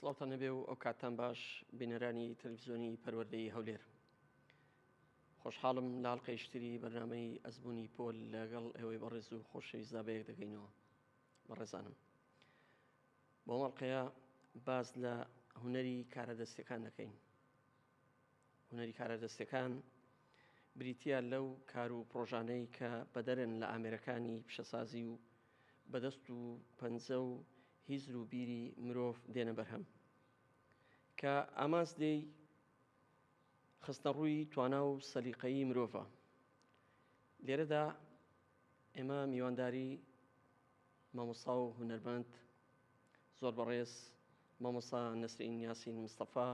سڵاوتان نەبێ و ئەو کاتان باش بینەرانی تەلویزیۆنی پەروەردەی هەولێر خۆشحاڵم لاڵقەی شتری بەرنمەی ئەزبوونی پۆل لەگەڵ ئێوەی بەڕێز و خۆشەویستدا بەیەک دەگەینەوە بەڕێزانم بۆ مەڵقەیە باز لە هوەری کارە دەستەکان دەکەین هونەری کارە دەستەکان بریتە لەو کار و پرۆژانەی کە بەدەرن لە ئامێرەکانی پیشەسازی و بەدەست و پەنجە و هیزر و بیری مرۆڤ دێنە بەرهەم کە ئامانس دێی خستە ڕووی توانا و سەلیقەیی مرۆڤە لێرەدا ئێمە میوانداری مامۆسا و هونەرمەند زۆر بەڕێز مامۆسا نەسرین یاسین مستەفا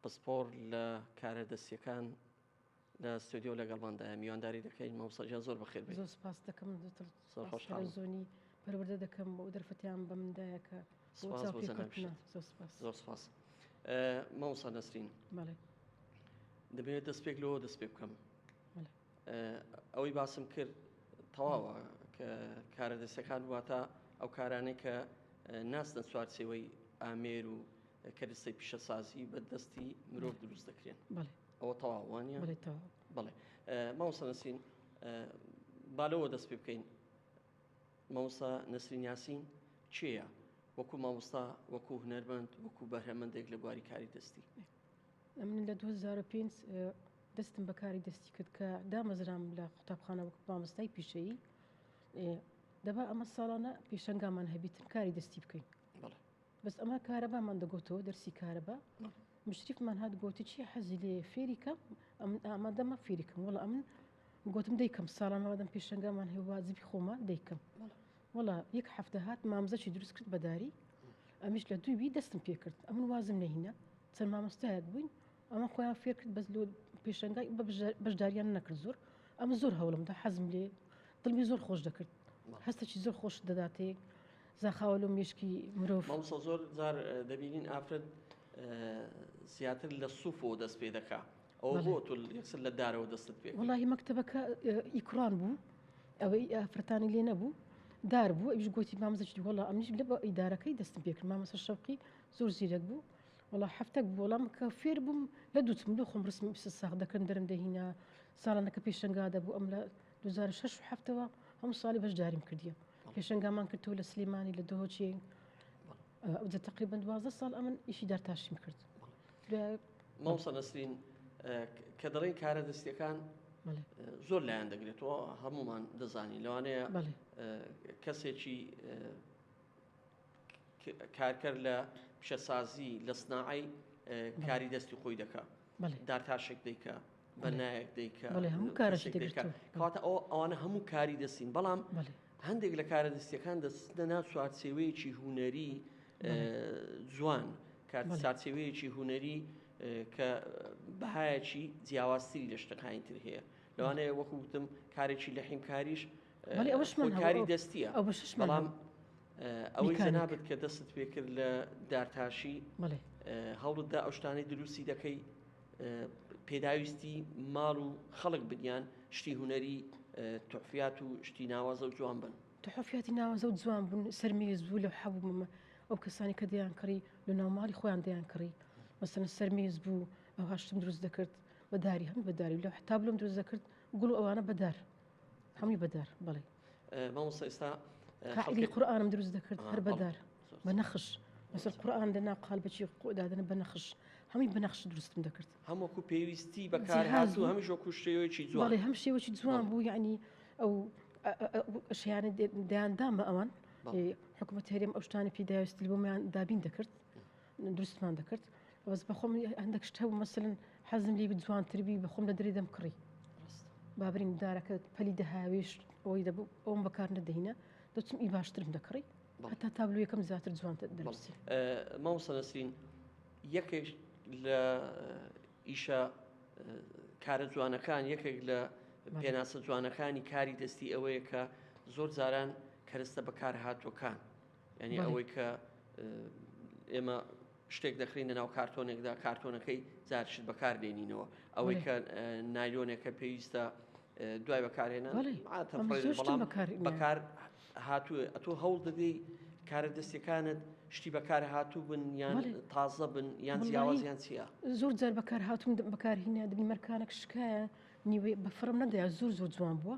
پسپۆڕ لە کارە دەستیەکان لە ستۆدیۆ لەگەڵماندایە میوانداری دەکەین مامۆستاجان زۆر بەخێر بێت زۆر سپاس دەکەم دوتر زۆر خۆش تەلەڤزیۆنی پەروەردە دەکەم بۆ دەرفەتیان بە مندایە کە سپاس بۆ جەنابیشت. زۆر سپاس زۆر سپاس مامۆستا نەسرین بەڵێ دەبێت دەست پێک لەوە دەست پێ بکەم بەڵێ ئەوەی باسم کرد تەواوە کە کارە دەستەکان واتە ئەو کارانەی کە ناستن چوارچێوەی ئامێر و کە دەستەی پیشەسازی بە دەستی مرۆڤ دروست دەکرێن ئەوە تەواوانە بڵێ ماوسە نسین بالەوە دەست پێ بکەین مەوسا نسرین یاسین چێە وەکو مامۆستا وەکو هنەرمەند وەکو بەرهەمەندێک لە بواری کاری دەستی ئەمن لە دوو هەزار و پێنج دەستم بە کاری دەستی کرد کە دامەزرام لە قوتابخانە وەک مامۆستای پیشەیی دەبا ئەمە ساڵانە پێشنگامان هەبیتن کاری دەستی بکەین بەس ئەمە کارەبامان دەگوتەوە دەرسی کارەبا مشریفمان هات گوتی چی حەزی لێ فێریکە ئەمن ئامادەمە فێریکم وڵ ئەمن گۆتم دەیکەم ساڵان هەوادەم پێشەنگامان هەیە وازبی خۆمان دەیکەم وڵا یەک هەفتە هات مامزەکی دروست کرد بەداری ئەمیش لە دووی دەستم پێکرد ئەمن وازم نەهینە چەند مامۆستایەک بووین ئەمە خۆیان فێرکرد بەس لۆ پێشەنگای بەشداریان نەکرد زۆر ئەمە زۆر هەوڵمدا حەزم لێ دڵمی زۆر خۆش دەکرد هەستەکی زۆر خۆش دەداتێ زاخاوە لۆ مێشکی مرۆڤ زۆر زار دەبینین ئافرەت زیاتر لە سوفۆ دەست پێ دەکات ئەوە بۆ تۆ یەکسەر لە دارەوە دەستت پێ وڵی مەکتتەبەکە ئیکڕان بوو ئەوەی ئافرەتانی لێ نەبوو دار بوو ئەوش گوتی مامزەشتی وڵا ئەمیش لە بە ئیدارەکەی دەستم پێکرد مامەسە شەوقی زۆر زیرەک بوو وڵا هەفتەک بۆڵام کە فێر بووم لە دوتم لە خۆم ڕسم ساخ دەکەن دەرم دەهینا ساڵانەکە پێشنگا دەبوو ئەم لە 2006 هەفتەوە هەموو ساڵی بەشداریم کردیە پێشنگامان کردەوە لە سلێمانی لە دۆچێ ئەوجە تقریبا دوازدە ساڵ ئەمن ئیشی دارتاشیم کرد مامۆستا نەسرین کە دەڵێن کارە دەستیەکان زۆر لایەن دەگرێتەوە هەمومان دەزانی لەوانەیە کەسێکی کارکەر لە پیشەسازی لە سناعی کاری دەستی خۆی دەکات دارتاشێک دەیکا بە نایەک دەیکا کەواتە ئەو ئەوانە هەموو کاری دەستین بەڵام هەندێک لە کارە دەستیەکان دەستە ناو چوارچێوەیەکی هوەری جوان کار چارچێوەیەکی هوەری کە بەهایەکی جیاوازتری لە شتەکانی تر هەیە لەوانەیە وەکوتم کارێکی لە حیمکاریش کاری دەستیە بەڵام ئەوەی جەنابت کە دەستت پێ کرد لە دارتاشی هەوڵدا ئەو شتانەی دروستی دەکەی پێداویستی ماڵ و خەڵک بگیان شتی هوەری تحفات و شتی ناوازە و جوان بن تحفاتی ناوازە و جوان بوون سەرمێز بوو لە حەبوومە ئەو کەسانی کە دەیان کڕی لە ناوماڵی خۆیان دەیان کڕی مەسەن سەرمێز بوو ئەو هاشتم دروست دەکرد بەداری هەم بەداری لە حتاب لەم دروست دەکرد گوڵ ئەوانە بەدار هەمووی بەدار بڵێ مامۆستا ئێستا قائدی قورآانم دروست دەکرد هەر بەدار بە نەخش بەسەر قورآان دەنا قال بەچی خۆدادنە بە نەخش هەمووی بەنەخش دروستم دەکرد هەمووکو پێویستی بەکار هاز و هەمیش وەکو شێوەیەکی جوڵی هەم شێوەی جوان بوو یعنی ئەو شیانە دەیاندامە ئەوان حکوومەت هەرێم ئەو شتانی پیداویست بۆمیان دابین دەکرد دروستمان دەکرد بەس بەخۆم هەندێک شت هەبوو مەسلن حەزم لی جوانتربی بەخۆم لە دەری دەم کڕی بابرین دارەکە پەلی دەهاویش ئەوی دەبوو ئەوم بەکار نەدەینە دەچم ئی باشترم دەکڕی هەتا تابلو یەکەم زیاتر جوانتە دەبستی مامۆستا نەسرین یەکێک لە ئیشە کارە جوانەکان یەکێک لە پێناسە جوانەکانی کاری دەستی ئەوەیە کە زۆر جاران کەرستە بەکارهاتوەکان یانی ئەوەی کە ئێمە شتێک دەخرینە ناو کارتۆنێکدا کارتۆنەکەی زارشت بەکار دێنینەوە ئەوەی کە نایلۆنێکە پێویستە دوای بەکارێنە بەکار هاتووە ئەتۆ هەوڵ دەدەی کارە دەستەکانت شتی بەکار هاتوو بن یان تازە بن یان جیاوازیان چیە زۆر جار بەکار هاتوون بەکارهینە دەبین مەرکانێک شکایە نیوەی بەفرم نەدەیا زۆر زۆر جوان بووە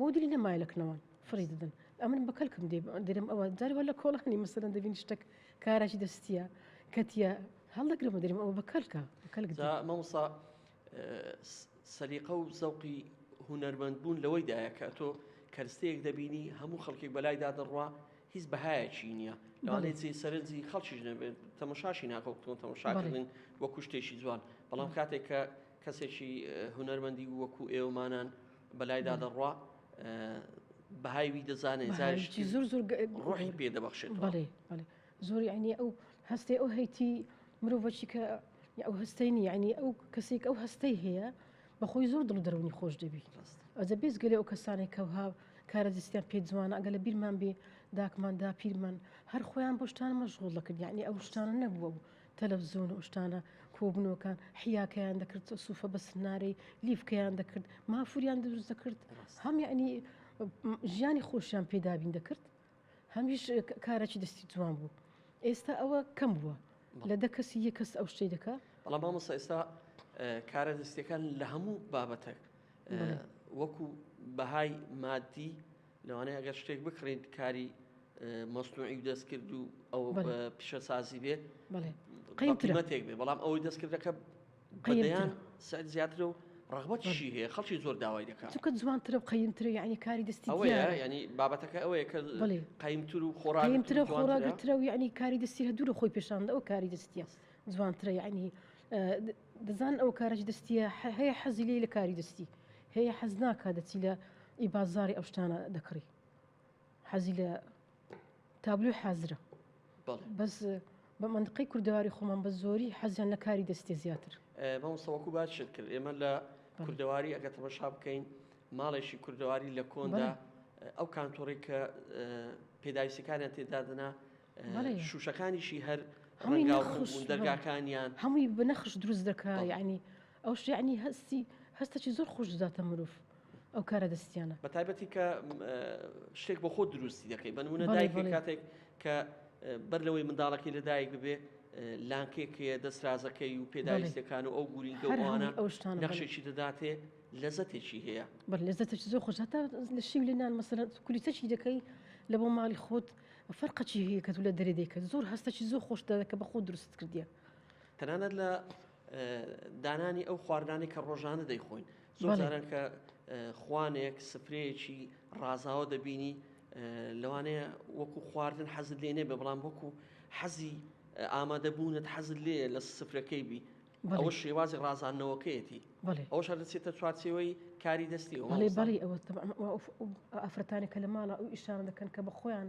مودری نەمایە لە کنەوان فڕی دەدەن ئەمن بە کەلکم دێ درم ئەوە جاری لە کۆڵانی مەسەرەن دەبین شتێک کاراشی دەستیە کەتیە هەڵدەگرمە درم ئەوە بە کەلکە کەلک مەمسا سەلیقە و زەوقی هوەرمەند بوون لەوەی دایە کە تۆ کەرستەیەک دەبینی هەموو خەڵکێک بەلای دادڕوا هیچ بەهایەکی نییە لەوانەیە جێ سەرنجی خەڵکیش نەبێت تەمەشاشی ناکەوتون تەمەشاکردن وە کوشتێکی جوان بەڵام کاتێک کە کەسێکی هونەرمەندی وەکو ئێوەمانان بەلایدا دەڕوا بەهای وی دەزانێت زارشتی زۆر زۆر ڕۆحی پێ دەبەخشێت بەڵێ بەڵێ زۆری عینی ئەو هەستی ئەو هەیتی مرۆڤەکی کە ئەو هەستەی نی عینی ئەو کەسێک ئەو هەستەی هەیە بەخۆی زۆر دڵ دەرونی خۆش دەبی ئەزە بێز گەلێ ئەو کەسانێک کەها کارە دەستیان پێ جوانە ئەگە لە بیرمان بێ داکماندا پیرمان هەر خۆیان بۆشتان مەشغول دەکرد یعنی ئەو شتانە نەبووە بوو تەلەفزون و شتانە کۆبنەوەکان حیاکەیان دەکرد سوفە بە سنارەی لیفکەیان دەکرد مافوریان دروست دەکرد هەم یعنی ژیانی خۆشیان پێدابین دەکرد هەمیش کارەی دەستی جوان بوو ئێستا ئەوە کەم بووە لە دە کەسی یە کەس ئەو شتەی دەکە بەڵام مامۆستا ئێستا کارە دەستەکان لە هەموو بابەتێک وەکو بەهای مادی لەوانەیە ئەگەر شتێک بکڕین کاری مەستوعی و دەستکرد و ئەو پیشەسازی بێ قیمەتێک بێ بەڵام ئەوەی دەستکردەکە قەیان سعد زیاتر و ڕغبەتشی هەیە خەڵکی زۆر داوای دەکات چکە جوانترە و قەیمترە یعنی کاری دەستی ینی بابەتەکە ئەوەیە کە قەیمتر و خۆراگترە خۆراگترە و یعنی کاری دەستی هە دوور خۆی پێشاندەوە کاری دەستیە جوانترە یعنی دەزان ئەو کارە چ دەستیە هەیە حەزی لێی لە کاری دەستی هەیە حەز ناکە دەچی لە ئی بازاری ئەو شتانە دەکڕی حەزی لە تابلوی حازرە بەس بە منقی کوردەواری خۆمان بە زۆری حەزیان لە کاری دەستێ زیاتر بەمسەوەکو باش شت کرد ئێمە لە کوردەواری ئەگە تەمەشا بکەین ماڵێکی کوردەواری لە کۆندا ئەو کانتۆڕی کە پێداویستەکانیان تێدادنا شوشەکانیشی هەر ڕەنگاو ڕوون بوون دەرگاکانیان. هەمووی بە نەخش دروست دەکا یانی ئەوش یانی هەستی هەستەکی زۆر خۆش دەداتە مرۆڤ ئەو کارە دەستیانە. بە تایبەتی کە شتێک بۆ خۆت دروستی دەکەی بە نموونە دایکێک کاتێک کە بەر لەوەی منداڵەکەی لە دایک ببێ لانکێک هەیە دەسرازەکەی و پێداویستەکان و ئەو گورینکە و ئەوانە نەخشێکی دەداتێ لەزەتێکی هەیە. بەر لەزەتێکی زۆر خۆش هەتا لە شیو لێ نان مەسەلەن کولیچەکی دەکەی لە بۆ ماڵی خۆت فەرقە چی هەیە کە تۆ لە دەرێ دەیکەت زۆر هەستە چی زۆر خۆش دەکە بە خۆ دروست کردیە تەنانەت لە دانانی ئەو خواردانی کە ڕۆژانە دەیخۆین زۆر جاران کە خوانێک سفرەیەکی ڕازاوە دەبینی لەوانەیە وەکو خواردن حەزت لێ نێبێ بەڵام وەکو حەزی ئامادەبوونت حەزت لێ لە سفرەکەی بی ئەوە شێوازی ڕازاندنەوەکەیەتی ئەوش دەچێتە چوارچەوەی کاری دەستی بەڵی ئەفرەتانی کە لە ماڵە ئەو ئیشان دەکەن کە بە خۆیان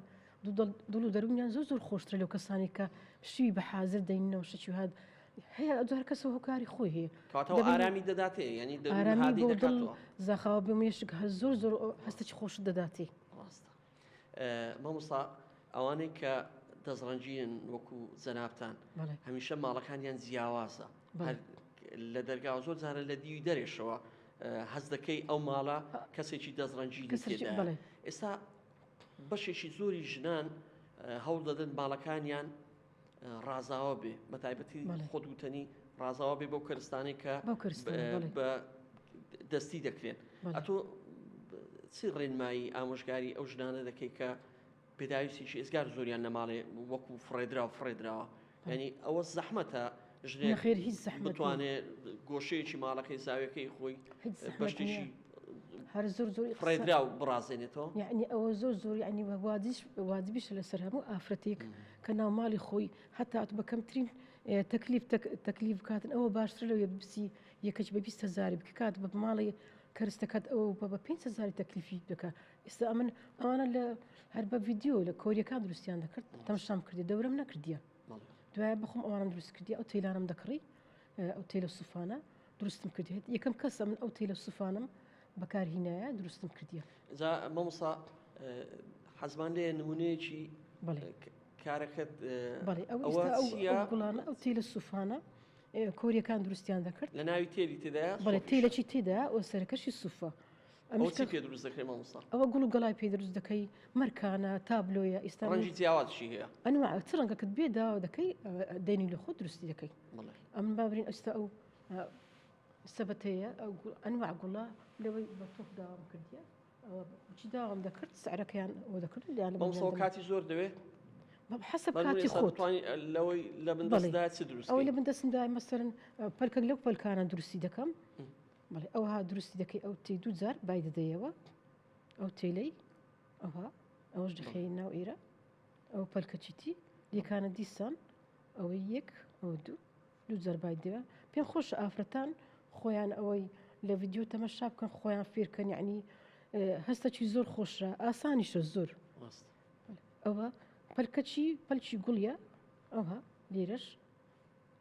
دڵ و دەرونیان زۆر زۆر خۆشترە لەو کەسانی کە شوی بە حازر دەینەوە شتی هاات هەیە ئەجار کەسە هۆکاری خۆی هەیە ئارامی دەداتێ ینی زاخاوە بێ مێشک هە زۆر زۆر هەستێکی خۆش دەداتی مامۆستا ئەوانەی کە دەستڕەنجین وەکو زەنابان هەمیشە ماڵەکانیان جیاوازە لە دەرگا زۆر جارە لە دیوی دەرێشەوە هەز دەکەی ئەو ماڵە کەسێکی دەستڕەنجی ئێستا بەشێکی زۆری ژنان هەوڵ دەدەن باڵەکانیان ڕازاوە بێ بە تایبەتی خۆت وتەنی ڕازاوە بێ بەو کەرستانەی کە بە دەستی دەکرێن ئەتۆ چی ڕێنمایی ئامۆژگاری ئەو ژنانە دەکەی کە پێداویستیش ئێزگار زۆریان نەماڵێ وەکو فڕێدرا و فڕێدراوە ینی ئەوە زەحمەتە ژنێ خێر هیچ بتوانێ گۆشەیەکی ماڵەکەی زاوێکەی خۆی بەشتیشی هەر زۆر زۆر ڕێدرا و بڕازێنێتەوە یعنی ئەوە زۆر زۆر ینی وادیش وادبیش لەسەر هەموو ئافرەتێک کە ناو ماڵی خۆی هەتات بە کەمترین تەکلیف تەکلیف بکاتن ئەوە باشتر لەوێ بسی یەکەچ بە بیست هزاری بکات بە ماڵی کەرستەکەت ئەو بە بە پێنج هزاری تەکلیفی دەکە ئێستا ئەمن ئەوانە لە هەر بە ڤیددیو لە کۆریەکان دروستیان دەکرد تەمشام کردی دەورم نەکردیە دوای بخۆم ئەوانم دروست کردی ئەو تەیلانم دەکڕی ئەو تەیلە سوفانە دروستم کردیت یەکەم کەسە من ئەو تەیلە سوفانم بەکار هینایە دروستم کردیە جا مەمسا حەزمان لێ نمونەیەکی کارەکەت گوڵانە ئەو تیلە سوفانە کۆریەکان دروستیان دەکرد لە ناوی تێلی تێدا بەڵێ تیلەکی تێدا ئەو سەرەکەشی سوفە ئەوە چی پێ دروست دەکەی مامۆستا؟ ئەوە گوڵ و گەڵای پێ دروست دەکەی مەرکانە تابلۆیە ئیستا ڕەنگی جیاوازشی هەیە ئەنواع چ ڕەنگەکەت بێ داوا دەکەی دێنی لە خۆ دروستی دەکەی ئەم بابرین ئەستا ئەو سەبەتەیە ئەو ئەنواع گوڵە لەوەی بە تۆپ داوام کردیە ئەوە چی داوام دەکرد سعرەکەیان ئەو دەکرد یان بەمسەوە کاتی زۆر دەوێت حسب کاتی خۆت لەوەی لە بندەستدا چ دروست ئەو لە بندەستدا مەسەرن پەلکەک لەو پەلکانە دروستی دەکەم بەڵێ ئەوها دروستی دەکەی ئەو تی دوو جار بای دەدەیەوە ئەو تێلەی ئەوها ئەوش دەخێی ناو ئیرە ئەو پەلکەچیتی یەکانە دیسان ئەوەی یەک ئەو دوو دوو جار بای دەوە پێ خۆش ئافرەتان خۆیان ئەوەی لە ڤیددیو تەمەشا بکەن خۆیان فێرکەن یعنی هەستە چی زۆر خۆشە ئاسانیشە زۆر ئەوە پەلکەچی پەلکی گوڵە ئەوها لێرەش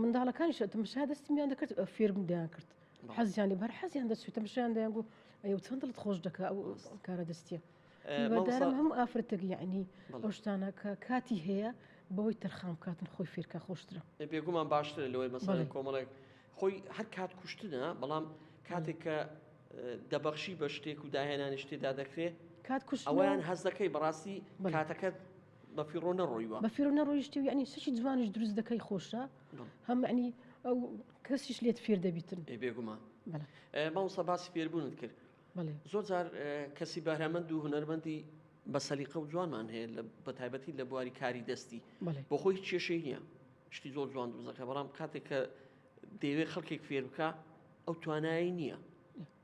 منداڵەکانیش تمشا دەستمیان دەکرد فێرم دەیان کرد حەزیان لێ بەر حەزیان دەچێت تمشیان دەیان بوو ئەی چەند دڵت خۆش دەکە ئەو کارە دەستیە بەدارم هەم ئافرەتەک یعنی ئەو شتانە کە کاتی هەیە بەوەی تەرخان بکاتن خۆی فێرکە خۆشترە بێگومان باشترە لەوەی مەسەڵ کۆمەڵێک خۆی هەر کات کوشتنە بەڵام کاتێک کە دەبەخشی بە شتێک و داهێنانی شتێدا دەکرێت کات کوشت ئەویان هەز دەکەی بەڕاستی کاتەکەت بەفیڕۆ نەڕۆیوە بەفیڕۆ نەڕۆیشتی و یعنی سەرچی جوانش دروست دەکەی خۆشە هەم عنی ئەو کەسیش لێت فێر دەبیتن بێگومان ماوسە باسی فێربوونت کرد زۆر جار کەسی بەرهەمەند و هوەرمەندی بە سەلیقە و جوانمان هەیە لە بەتایبەتی لە بواری کاری دەستی بۆ خۆی کێشەی نییە شتی زۆر جوان دوزەکە بەڵام کاتێک کە دەیەوێت خەڵکێک فێر بکە ئەو توانایی نییە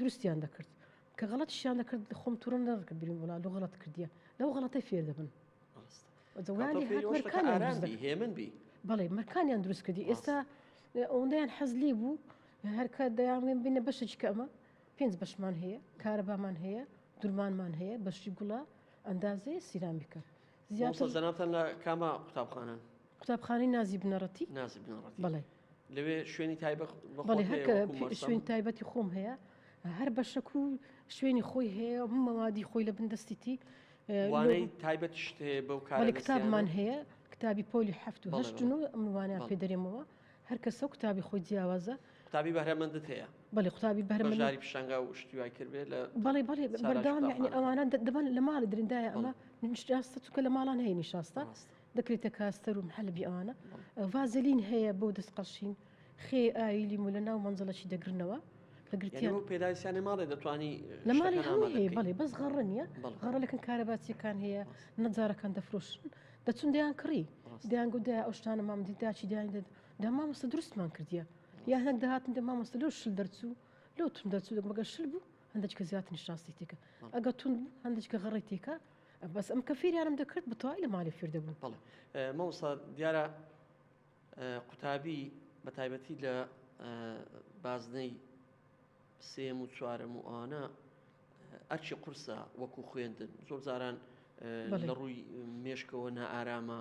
دروستیان دەکرد کە غەڵەتیشیان دەکرد خۆم تووڕە نەدەکرد بیرم وەڵا لۆ غەڵەت کردیە لەو غەڵەتەی فێر دەبن هێمن بی بەڵێ مەرکانیان دروست کردی ئێستا ئەوەندەیان حەز لێ بوو هەرکە دەیانڵێن بینە بەشێکی کە ئەمە پێنج بەشمان هەیە کارەبامان هەیە درمانمان هەیە بەشی گوڵە ئەندازەیە سیرامیکە زیاتر زەناتەن لە کاما قوتابخانە قوتابخانەی نازی بنەڕەتی نازی بنەڕەتی بەڵێ لەوێ شوێنی تایبەت بەڵێ هەکە شوێن تایبەتی خۆم هەیە هەر بەشەک و شوێنی خۆی هەیە مەوادی خۆی لە بندەستیتی وانەی تایبەت شتێ بەو کار کتابمان هەیە کتابی پۆلی هەفت و هەشت و ئەمروانە پێ دەرێمەوە هەر کەسە و کتابی خۆی جیاوازە قوتابی بەرەمەندت هەیە بەڵێ قوتابی بەرمەژاری پیشنگا و شتیوای کردێت لە بەڵێ بەڵێ بەرداوام ئەوانە دەبن لە ماڵی درندایە ئەمە نیشتاستە چکە لە ماڵان هەیە نیشاستە دەکریتە کاس سەروم حەلبی ئەوانە ڤازلین هەیە بۆ دەست قەشین خێ ئاوی لیمو لە ناو مەنزڵەکی دەگرنەوە کە گرتیان پێداویستیانە ماڵێ دەتوانی لە ماڵی شەکەن هەموو هەیە ئامادەکەی بەڵێ بەس غەڕە نییە بەڵێ. غەڕە لەکن کارەباچیەکان هەیە نەجارەکان دەفرۆشن دەچون دەیان کڕی ڕاستە. دەیان گو دای ئەو شتانە مام دی داچی دایان دەد دا مامۆستا دروستمان کردیە یا هەندێک دەهاتن دە مامۆستا لەو شل دەرچوو لەو تون دەرچوو دەگوم گە شل بوو هەندێکە زیاتر نیشاستی تێکە ئەگە تون بوو هەندێکە غەڕی تێکە بەس ئەم کە فێریانم دەکرد بە تەواوی لە مالی فێر دەبوون. بەڵێ مامۆستا دیارە قوتابی بە تایبەتی لە بازنەی سێم و چوارەم و ئەوانە ئەرچی قورسە وەکو خوێندن زۆر جاران لە ڕووی مێشکەوە نائارامە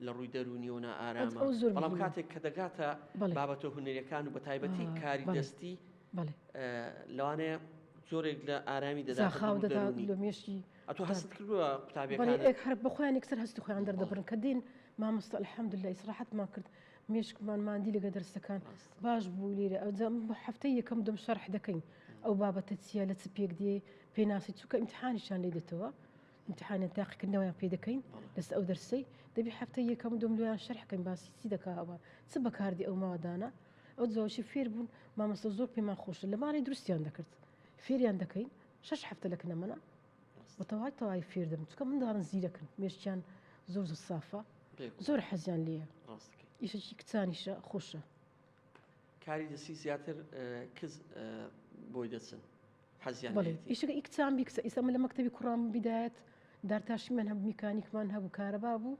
لە ڕووی دەروونیەوە نائارامە، بەڵام کاتێک کە دەگاتە بابەتە هونەریەکان و بە تایبەتی کاری دەستی لەوانەیە جۆرێک لە ئارامی دەزاخاودەدامێشی ئەتۆ هەست کردووە قوتابەکان هەر بخۆیان یکسەر هەستی خۆیان دەردەبرن کە دین مامۆستا الحمد لله ئیسراحەتمان کرد مێشکمان مادی لەگە دەرسەکان باش بوو لێرە ئەوجام هەفتەی یەکەم دەم شەرح دەکەین ئەو بابەتە چیە لە چ پێک دێ پێناسی چووکە ئیمتحانیشان لێ دێتەوە ئیمتیحانیان تاقیکردنەوەیان پێ دەکەین لەسەر ئەو دەرسەی دەبی هەفتەی یەکەم و دوم لۆیان شەرح کەین باسی چی دەکا ئەوە چ بەکاردی ئەو ماوەدانە ئەو جوشی فێر بوون مامەسە زۆر پێمان خۆشە لە ماڵی دروستیان دەکرد فێریان دەکەین شش هەفتە لە کنەمەە بەتەوای تەوای فێر دەم چکە منداڵن زیرەکن مێشتیان زۆر زە سافە زۆر حەزیان لێە ئیشەکی کچانیشە خۆشە کاری دەستی زیاتر کز بۆی دەچن ئیشەکە ئیکچان بیکسە ئیسا من لە مەکتتەبی کوڕام بدایەت دارتاشی من هەم میکانیکمان هەبوو کارەبا بوو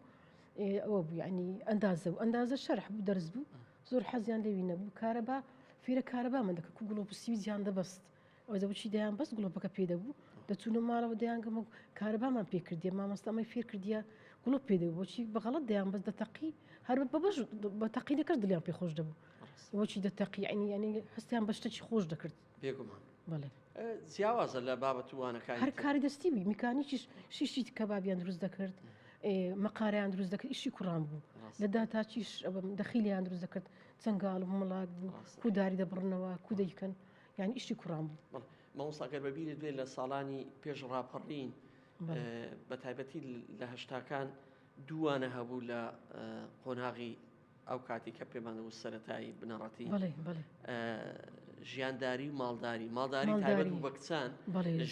ئەوە بوو ینی ئەندازە و ئەندازە شەرح بوو دەرز بوو زۆر حەزیان لەوی نەبوو کارەبا فیرە کارەبا من دەکە کو گوڵۆ پسیوی زیان دەبەست ئەو دەوچی دەیان بەس گڵۆپەکە پێ دەبوو دەچوونە ماڵەوە دەیانگەم و کارەبامان پێ کردی مامۆستامەی فێر کردیە گڵۆپ پێ دەبوو بۆچی بەغڵت دەیان بەس دەتەقی هەر بە بەش بە تەقینەکەش دلیان پێ خۆش دەبوو بۆچی دەتەقی ئەنی ینی هەستیان بە شتەکی خۆش دەکرد بێگومان بڵێ جیاوازە لە بابەتوانەکان هەر کاری دەستی بی میکانیکیش شیشی کەبابیان دروست دەکرد مەقاریان دروست دەکرد ئیشی کوڕان بوو لە داتاچیش دەخیلیان دروست دەکرد چنگال مڵات بوو کوداری دەبڕنەوە کودەیکەن یانی ئیشی کوڕان بوو. بەڵێ مامۆستا گەر بەبیرت بێ لە ساڵانی پێش ڕاپەڕین بە تایبەتی لە هەشتاکان دووانە هەبوو لە قۆناغی ئەو کاتی کە پێمانە و سەتایی بنەڕەتی ژیانداری و ماڵداری ماڵداری تایبەت بوو بە کچان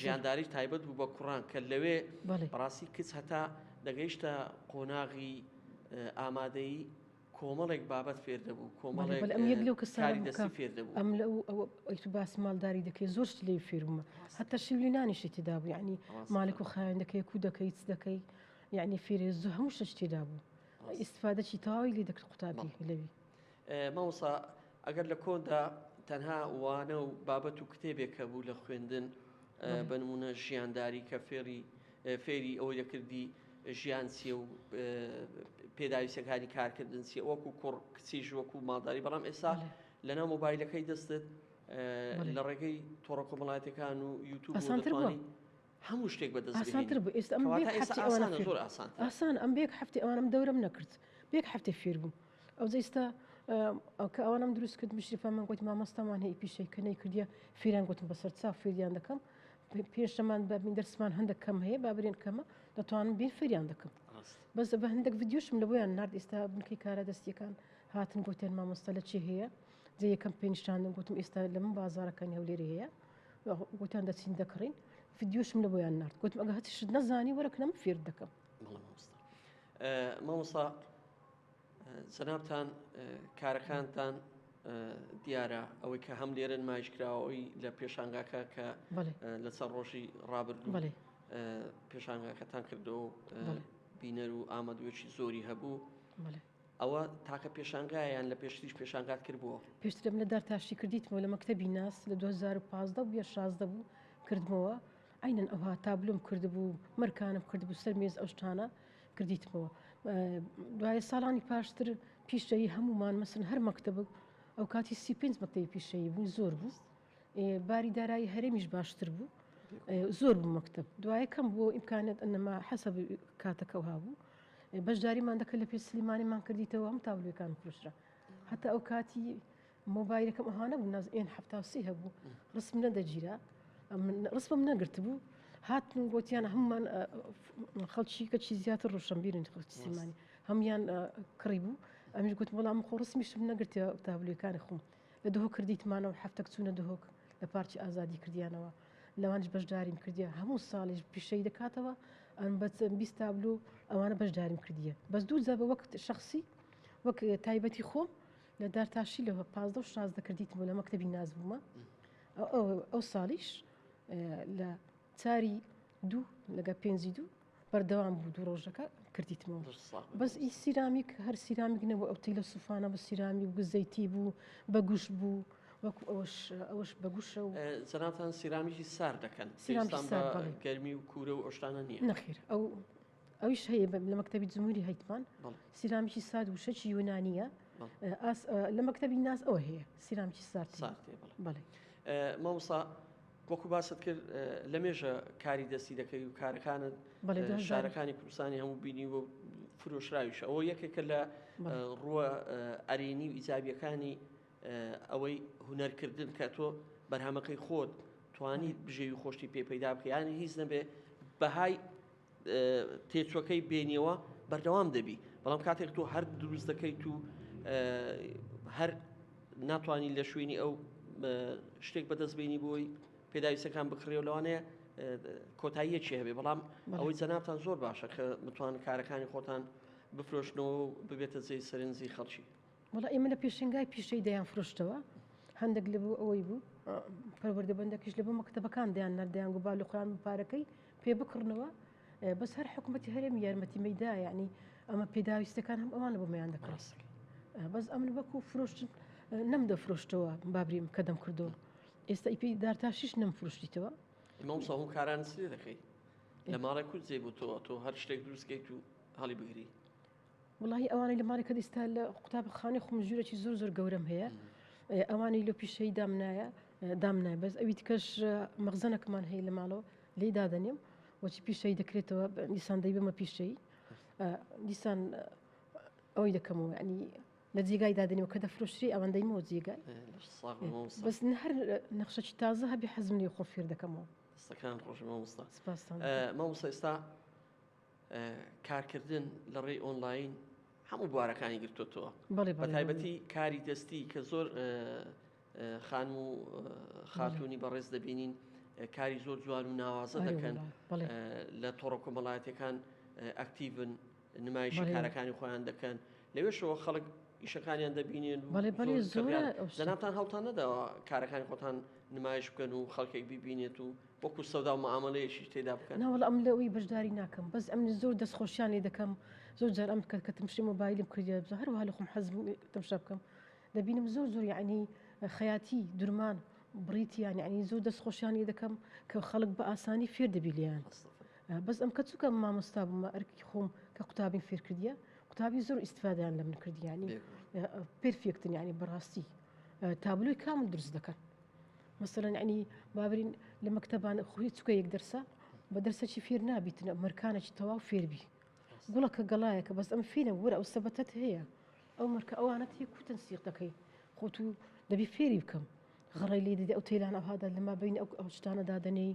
ژیانداری تایبەت بوو بە کوڕان کە لەوێ بەڕاستی کچ هەتا دەگەیشتە قۆناغی ئامادەی کۆمەڵێک بابەت فێر دەبوو کۆمەڵێک کاری دەستی فێر دەبوو. بەڵێ بەڵێ ئەم یەک لەو کەسانە بوو کە ئەم لە ئەو ئەوەی تو باسی ماڵداری دەکەی زۆر شت لێی فێر بوومە هەتا شیولی نانیشی تێدا بوو یەعنی مالک و خاوێن دەکەی کو دەکەی چ دەکەی یەعنی فێری زۆر هەموو شت تێدا بوو ئیستفادەی تەواوی لێ دەکرد قوتابی لەوی. مامۆستا ئەگەر لە کۆندا تەنها وانە و بابەت و کتێبێک هەبوو لە خوێندن بە نموونە ژیانداری کە فێری فێری ئەوەی دەکردی ژیان چیە و پێداویستەکانی کارکردن چیە وەکو کوڕ کچیش وەکو ماداری بەڵام ئێستا لەنا مۆبایلەکەی دەستت لە ڕێگەی تۆڕە کۆمەڵاتەکان و یوتوب ئاسانترانی هەموو شتێک بەدەستسانتر بوو ئێستا زۆر ئاسان ئاسان ئەم بێک هەفتی ئەوانم دەورم نەکرد بێک هەفتی فێر بوو ئەو جیستا کە ئەوانم دروست کرد مشرفە من گوت مامەستامان هەیە پیشەی کە نەی کردە فیران گوتم بەسەر چا فێریان دەکەم پێش زەمان بابین دەرسمان هەندە کەم هەیە بابرێن کەمە دەتوانم بێ فریان دەکەم بەس بە هەندێک ڤیددیوشم لە بۆیان نرد ئێستا بنکەی کارە دەستیەکان هاتن گوتێن مامۆستا لە چی هەیە جێ یەکەم پێنیشاندن گوتم ئێستا لە من بازارەکانی هەولێری هەیە گوتیان دەچین دەکڕین ڤیددیوشم لە بۆیان نرد گوتم ئەگە هەچشت نەزانی وەرەکەم فێر دەکەم مامۆستا جەنابتان کارەکانتان دیارە ئەوەی کە هەم لێرە نمایشکراوەی لە پێشانگاکە کە لە چەند ڕۆژی ڕابردوو پێشانگاکەتان کردەوە بینەر و ئامادوێکی زۆری هەبوو ئەوە تاکە پێشانگایان لە پێشتریش پێشانگات کردبووە پێشتر منە دار تاشی کردیتمەوە لە مەکتتەبی ناس لە 2015 بە 16 بوو کردمەوە ئەینەن ئەوها تابلوم کردبوو مەرکانم کردبوو سەر مێز ئەوشتانە کردیتمەوە دوای ساڵانی پاشتر پیشەی هەمومان مەسن هەر مەکتب ئەو کاتی سی پێنج مەکتەی پیشەی بوو زۆر بوو باری دارایی هەرێمیش باشتر بوو زۆر بوو مەکتب دوای کەم بۆ ئیمکانێت ئەنەما حەسە کاتەکە هابوو بەشداریمان دەکە لە پێ سلیمانیمان کردیتەوە هەم تابلوەکان پرشرا هەتا ئەو کاتی مۆبایلەکەم ئەها نەبوو ناز ئێن حفتا و سی هەبوو ڕسم نەدەگیرا ڕسمم نەگرت بوو هاتن و گوتیان هەممان خەڵکی کەچی زیاتر ڕوشنبیرن خەڵکی سیمانی هەمان کڕی بوو ئەمیش گوت وەڵام خۆ ڕسمیشم نەگرتە تابلوەکانی خۆم لە دهۆ کردیتمانەوە هەفتەک چوونە دهۆک لە پارچی ئازادی کردیانەوە لەوانش بەشداریم کردیە هەموو ساڵیش پیشەی دەکاتەوە ئەم بە بیست تابلو ئەوانە بەشداریم کردیە بەس دوو جا بە وەک شخصی وەک تایبەتی خۆم لە دارتاشی لە پازدە شاز دەکردیت بوو لە مەکتتەبی ناز بوومە ئەو ساڵیش لە چاری دوو لەگە پێنجی دوو بەردەوام بوو دوو ڕۆژەکە کردیتمەوە بەس ئی سیرامیک هەر سیرامیک نەبوو ئەو تیلە سوفانە بە سیرامی و گزەیتی بوو بە گوش بوو وەکو ئەوش ئەوش بەگوشە و زەناتان سیرامیکی سار دەکەن گەرمی و کورە و ئۆشتانە نیە نەخیر ئەو ئەویش هەیە لە مەکتتەبی جمهوری هەیتمان سیرامیکی سات وشەکی یۆنانیە لە مەکتتەبی ناز ئەوە هەیە سیرامیکی سات بڵێ مامسا وەکو باست کرد لە مێژە کاری دەستی دەکەی و کارەکانت شارەکانی کوردستانی هەموو بینی و فرۆشراویش ئەوە یەکێکە لە ڕووە ئەرێنی و ئیجابیەکانی ئەوەی هوەرکردن کە تۆ بەرهەمەکەی خۆت توانی بژێوی خۆشتی پێ پەیدا بکەیانی هیچ نەبێ بەهای تێچوەکەی بێنیەوە بەردەوام دەبی بەڵام کاتێک تۆ هەر دروست دەکەیت و هەر ناتوانانی لە شوێنی ئەو شتێک بەدەست بینی بۆی پێداویستەکان بکڕێ و لەوانەیە کۆتاییەکی هەبێ بەڵام ئەوەی جەنابان زۆر باشە کە متوان کارەکانی خۆتان بفرۆشنەوە ببێتە جێی سەرنجی خەڵکی وەڵا ئێمە لە پێشنگای پیشەی دەیان فرۆشتەوە هەندێک لە بوو ئەوەی بوو پەروەردە بەندەکیش لە بۆ مەکتتەبەکان دەیان نردیان گو با لە قران پارەکەی پێ بکڕنەوە بەس هەر حکوومەتتی هەرێم یارمەتی مەدا ینی ئەمە پێداویستەکان هەم ئەوان لە بۆ میان دەکڕاس بەس ئەمن وەکو فرۆشتن نەم دە فرۆشتەوە بابریم کە دەم کردو ئێستا ئیپی دارتاشیش نەم فرۆشتیتەوە مەمسا هەم کاران سێ دەکەی لە ماڵێک کوت زێ بۆ تۆ تۆ هەر شتێک دروستکەیت و هەڵی بگری وەڵاهی ئەوانەی لە ماڵی کەت ئیستا لە قوتاب خانەی خم ژورێکی زۆر زۆر گەورەم هەیە ئەوانی لۆ پیشەی دامنایە دامنای بەس ئەوی تکەش مەغزەنەکمان هەیە لە ماڵەوە لی دادەنیم وەچی پیشەی دەکرێتەوە دیسان دەی بمە پیشەی دیسان ئەوی دەکەمەوە ینی لە جێگای دادنەوە کە دەفرۆشری ئەوەندەیمەوە جێگای بەس هەر نەخشەی تازە هەبی حەزم لێ خۆ فێر دەکەمەوە سەکان ڕۆژمە مامۆستا مامۆستا ئێستا کارکردن لە ڕێی ئۆنلاین هەموو بوارەکانی گرتوتەوە بە تایبەتی کاری دەستی کە زۆر خان و خاتونی بەڕێز دەبینین کاری زۆر جوان و ناوازە دەکەن لە تۆڕە کۆمەڵایەتەکان ئەکتیڤن نمایش کارەکانی خۆیان دەکەن لەوێشەوە خەڵک ئیشەکانیان دەبینێن زەناتان هەڵتان نەداوە کارەکانی خۆتان نمایش بکەن و خەڵکێک ببینێت و وەکو سەوداو مەعامەلەیەکی تێدا بکەن. ناوەڵا ئەم لە وی بەژداری ناکەم بەس ئەمن زۆر دەست خۆشیان لێ دەکەم زۆر جار ئەم کە کە تمشی مۆبایلم کردیە بزۆ هەروها لە خۆم حەز تمشا بکەم دەبینم زۆر زۆر یعنی خەیاتی درمان بڕیتیان یعنی زۆر دەست خۆشیان لێ دەکەم کە خەڵک بە ئاسانی فێر دەبی لیان بەس ئەم کە چووکە مامۆستا بوومە ئەرکی خۆم کە قوتابیم فێر کردیە قوتابی زۆر ئیسفادیان لە من کردیانی پرفێکتن یعنی بەڕاستی تابلۆی کامل درست دەکەن مەسەلەن یەعنی با برین لە مەکتەبان خۆ هیچ چکە یەک دەرسە بە دەرسەکی فێر نابیتنە مەرکانێکی تەواو فێربی گوڵەکە گەڵایەکە بەس ئەم فینە وەرە ئەو سەبەتت هەیە ئەو مەرکە ئەوانە تێ کوتن سیق دەکەی خۆت و دەبی فێری بکەم غڕی لێ دەدە ئەو تێلان ئەوهادا لەما بین ئەو ئەو شتانە دادەنێی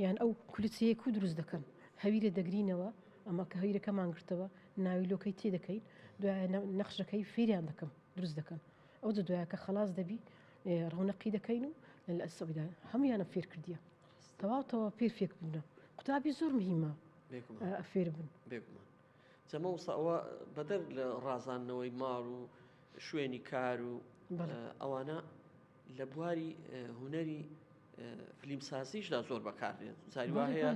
یان ئەو کولچەیەک و دروست دەکەن هەویرە دەگرینەوە ئەمە کە هەویرەکەمان گرتەوە ناوی لۆکەی تێ دەکەین دوای نەخشەکەی فێریان دەکەم دروست دەکەن ئەو جە دوایە کە خلاص دەبی ڕەونەقی دەکەین و لە سەودا هەمویانە فێر کردیە تەواوتەوە پێ فێک بوونە قوتابی زۆر مهمە فێر بن بێگومان جەمە وسەوە بەدەر لە ڕازاندنەوەی ماڵ و شوێنی کار و ئەوانە لە بواری هوەری فلیم سازیشدا زۆر بەکارێت زاری وا هەیە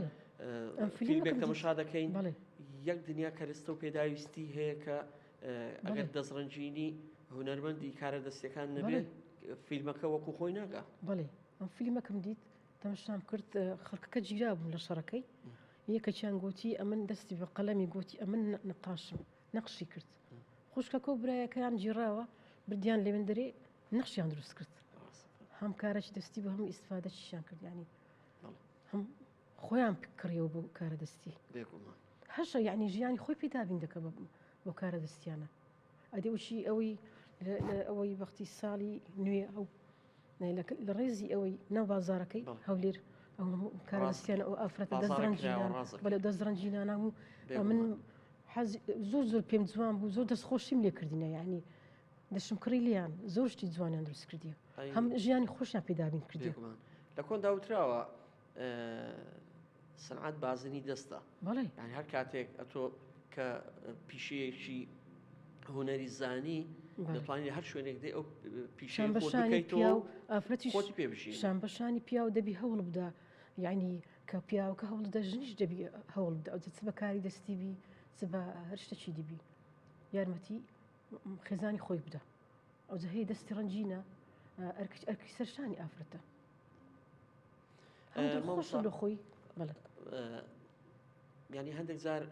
فیلمێک تەمەشا دەکەین یەک دنیا کەرستە و پێداویستی هەیە کە ئەگەر دەستڕەنجینی هونەرمەندی کارە دەستەکان نەبێت فیلمەکە وەکو خۆی ناگا بەڵێ ئەم فیلمەکەم دیت تەمەشام کرد خەڵکەکە جیرا بوون لە شەڕەکەی یەکەچیان گوتی ئەمن دەستی بە قەلەمی گوتی ئەمن نقاشم نەخشی کرد خوشکەکە و برایەکەیان جیڕاوە بردیان لەوێن دەرێ نەخشیان دروست کرد هەم کارەی دەستی بە هەموو ئیسفادەشیان کردیانی هەم خۆیان کڕیەوە بۆ کارە دەستی بێگومان هەشە یعنی ژیانی خۆی پێ دابین دەکە بۆ کارە دەستیانە ئەدی وشی ئەوەی ئەوەی بەختی ساڵی نوێ ئەو لە ڕێزی ئەوەی ناو بازارەکەی هەولێر ئەو کارستیان ئەو ئافرەت بە لە دەستڕەنجی نانام و من زۆر زۆر پێم جوان بوو زۆر دەست خۆشیم لێ کردینە یعنی دەشم کڕی لیان زۆر شتی جوانیان دروست کردی هەم ژیانی خۆشیان پێدابین کردی لە کۆن داوتراوە سەنعەت بازنی دەستە یان هەر کاتێک ئەتۆ کە پیشەیەکی هوەری زانی دەتوانانی هەر شوێنێک دێ ئەو پیشان بەشانی پیا و ئافرەتی خۆت پێبژی شان بەشانی پیا و دەبی هەوڵ بدا یعنی کە پیاوکە هەوڵ دە ژنیش دەبی هەوڵ بدە ئەو چ بەکاری دەستی بی چ بە هەر شتەکی دیبی یارمەتی خێزانی خۆی بدە ئەوجە هەی دەستی ڕەنجینە ئەرکچ ئەرکی سەرشانی ئافرەتە خۆشە لە خۆی ینی هەندێک جار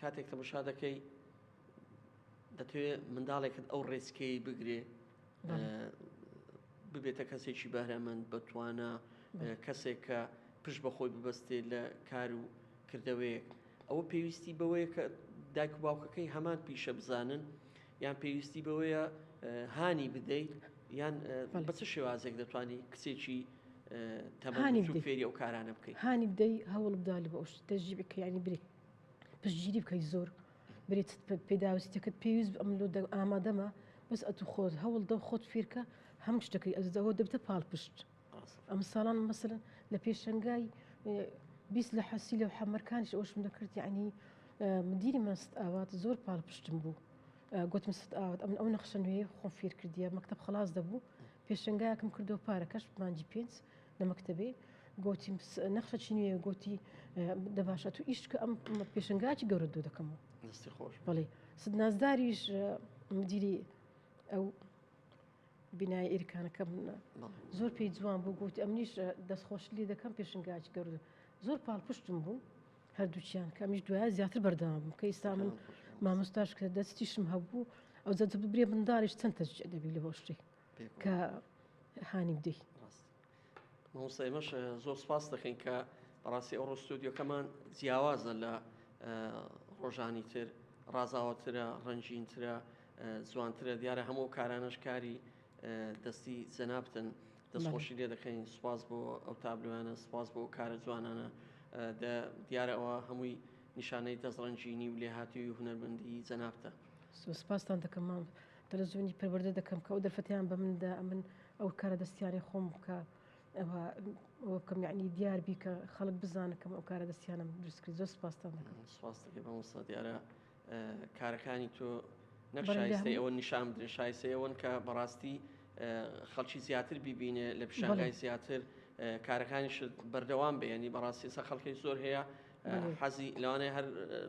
کاتێک تەمەشا دەکەی دەتوێ منداڵێکت ئەو ڕێسکەی بگرێ ببێتە کەسێکی بەرەمەند بەتوانە کەسێک کە پشت بەخۆی ببەستێ لە کار و کردەوەیەک ئەوە پێویستی بەوەیە کە دایک و باوکەکەی هەمان پیشە بزانن یان پێویستی بەوەیە هانی بدەیت یان بە چ شێوازێک دەتوانانی کچێکی تەمانی فێری ئەو کارانە بکەیت هانی بدەی هەوڵ بدا لە بەش دەژی بکەیانی بری پشتگیری بکەی زۆر برێت پێداویستەکەت پێویست ئەم لۆ ئامادەمە بەس ئەتو خۆت هەوڵ دە خۆت فێرکە هەم شتەکەی ئەزەوە دەبتە پاڵ پشت ئەمساڵان مەسەلەن لە پێشەنگای بیست لە حەسی لەو حەمەرکانش ئەوشم دەکرد یعنی مدیری مەست ئاوات زۆر پاڵ پشتم بوو گوتم ست ئاوات ئەم ئەو نەخشە نوێ خۆم فێر کردیە مەکتب خلاص دەبوو پێشنگایەکم کردو پارەکەش مانجی پێنج لە مەکتتەبێ گوتی نەخشە چی نوێ گوتی دەباشە تو ئیشکە ئەم پێشنگاچی گەورە دوو دەکەمەوە بەڵێ ست نازداریش مدیری ئەو بینای ئیرکانەکە منە زۆر پێی جوان بوو گوتی ئەمنیش دەست خۆش لێ دەکەم پێشنگاچ گەورد زۆر پاڵپشتم بوو هەردووچیان کەمیش دوای زیاتر بەردەوام بوو کە ئیستا من مامۆستاش کە دەستیشم هەبوو ئەو جە برێ منداڵیش چەند تەجی ئەدەبی لە هۆشتی کە هانی بدەی مامۆستا ئێمەش زۆر سپاست دەکەین کە بەڕاستی ئەوڕۆ ستۆدیۆکەمان جیاوازە لە ڕۆژانی تر ڕازاوەترە ڕەنجینترە جوانترە دیارە هەموو کارانەش کاری دەستی جەنابتن دەستخۆشی لێ دەکەین سوپاس بۆ ئەو تابلوانە سوپاس بۆ کارە جوانانە دیارەوە هەمووی نیشانەی دەستڕەنجینی و لێهاتوی هونەرمەندی جەنابتە سوپاستان دەکەم مام. تەلەزۆنی پەروەردە دەکەم کە ئەو دەرفەتیان بە مندا ئەمن ئەو کارە دەستیانی خۆم بکە بکەم یعنی دیار بیکە خەڵک بزانکەم ئەو کارە دەستیانم دروستکرد زۆر سپاستان دەکەم سپاس دەکەم بە مستە دیارە کارەکانی تۆ نەشایستەی ئەوە نیشان بدرێ شایسەیەوەن کە بەڕاستی خەڵکی زیاتر ببینێ لە پیشانگای زیاتر کارەکانیش بەردەوام بێنی بەڕاستی سە خەڵکی زۆر هەیە حەزی لەوانەیە هەر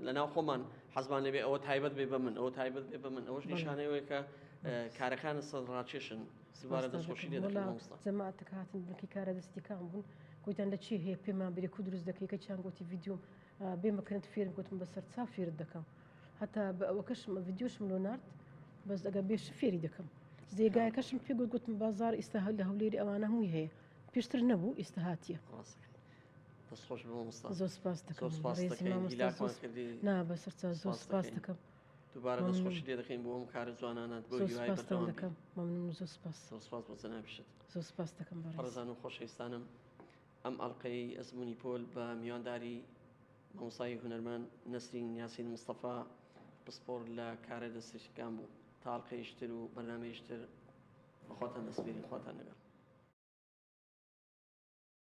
لە ناو خۆمان حەزمان لێبێ ئەوە تایبەت بێ بە من ئەوە تایبەت بێ بە من ئەوەش نیشانەوەیە کە کارەکان سەد ڕاکێشن سیبارە دەستخۆشی لێ جەماعەتەکە هاتن بنکی کارە دەستیکان بوون گوتیان لە چی هەیە پێمان بێ کو دروست دەکەی کە چیان گوتی ڤیددیوم بێ مەکرنت فێرم گوتم بەسەر چا فێرت دەکەم هەتا بە ئەوەکەشم ڤیددیوشم لۆ نرد بەس ئەگە بێش فێری دەکەم زێگایەکەشم پێ گوت گوتم بازار ئیستا هەل لە هەولێری ئەوانە هەمووی هەیە پێشتر نەبوو ئیستا هااتە. دەست خۆش بێ مامۆستا زۆر سپاست دەکەم زۆر سپاست بەڕێزی دەکەین مامۆستا هیلاکمان زۆر کردی نا بەسەرچا زۆر سپاست سپاست دەکەین. دەکەم دووبارە دەست مەمنون. خۆشی لێ دەکەین بۆ ئەم کارە جوانانەت بۆ زۆر هیوای سپاستان بەردەوام بی دەکەم مەمنون زۆر سپاس زۆر سپاس بۆ جەنابیشت زۆر سپاس دەکەم بەڕێز بەڕێزان و خۆشەویستانم ئەم ئەڵلقەی ئەزموونی پۆل بە میوانداری مامۆستای هونەرمەند نەسرین یاسین مستەفا پسپۆر لە کارە دەستێشتەکان بوو تا ئەڵلقەیش تر و بەرنامەیش تر بەخواتان دەسپێرین خواتان لەگەڵ